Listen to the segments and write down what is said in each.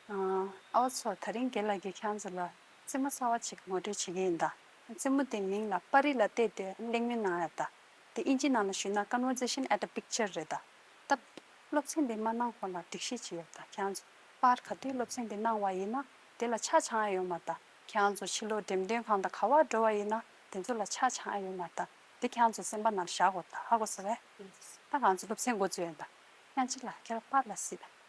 ཨ་བ་ཚོ་ད་རིང་དགེ་ལགས་ཀྱིས་ཁྱང་ཚོ་ལ་རྩེད་མོ་གསར་བ་ཆེ་གི་ངོ་སྤྲོད་བྱེད་ཀྱི་ཡིན་ད། རྩེད་མོ་དེ་མིང་ལ་པར་རིས་ལ་བལྟས་ཏེ་གླེང་མོལ་གནང་ཡག་ད། དེ་དབྱིན་ཇིའི་ནང་ལ་ཞུས་ན Conversation at a Picture རེད་ད། སྟབས། སློབ་ཚན་དེ་མ་གནང་གོང་ལ་སྒྲིག་གཞི་བྱེད་ཡག་ད་ཁྱང་ཚོ། པར་ག་དུས་སློབ་ཚན་དེ་གནང་བ་ཡིན་ན་དེ་ལ་ཆ་ཆང་ཨེ་ཡོད་མ་ད། ཁྱང་ཚོ་ཕྱི་ལོ་འགྲེམས་སྟོན་གང་ད་ག་བར་འགྲོ་བ་ཡིན་ན་དེ་ཚོ་ལ་ཆ་ཆང་ཨེ་ཡོད་མ་ད། དེ་ཁྱང་ཚོ་སེམས་པ་ནང་བཞག་གོ་ད་ཧ་གོ་ཟེར་བས། ད་ང་ཚོ་སློབ་ཚན་འགོ་བཙུགས་ཡོད་ད། ཁྱང་ཅིག་ལ་ཁྱེད་རང་པར་ལ་སྲིད།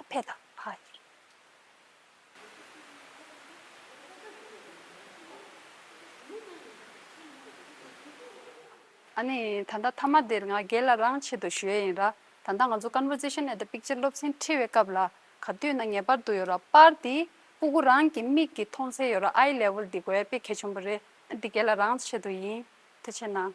ཨ་ཕས་དང་ཕ་ཡི། ཨ་ནེ། ད་ལྟ་མཐའ་མ་འདིར་ང་རྒྱལ་ལ་རང་ཆེད་དུ་བཞོལ་ཡིན་ར། ད་ལྟ་ང་ཚོ Conversation at the Picture སློབ་ཚན་ཁྲིད་བའི་སྐབས་ལ་ག་དུས་ན་ངེས་པར་དུ་ཡོད་ར་པར་འདི་པུ་གུ་རང་གི་མིག་གིས་མཐོང་ཚད་ཡོད་ར་ཨའི Level འདི་གོ་ཡ་དཔེ་གལ་ཆེན་པོ་རེད་ཨ་འདི་རྒྱལ་ལ་རང་ཆེད་དུ་ཡིན། དེ་ཕྱིར་ན།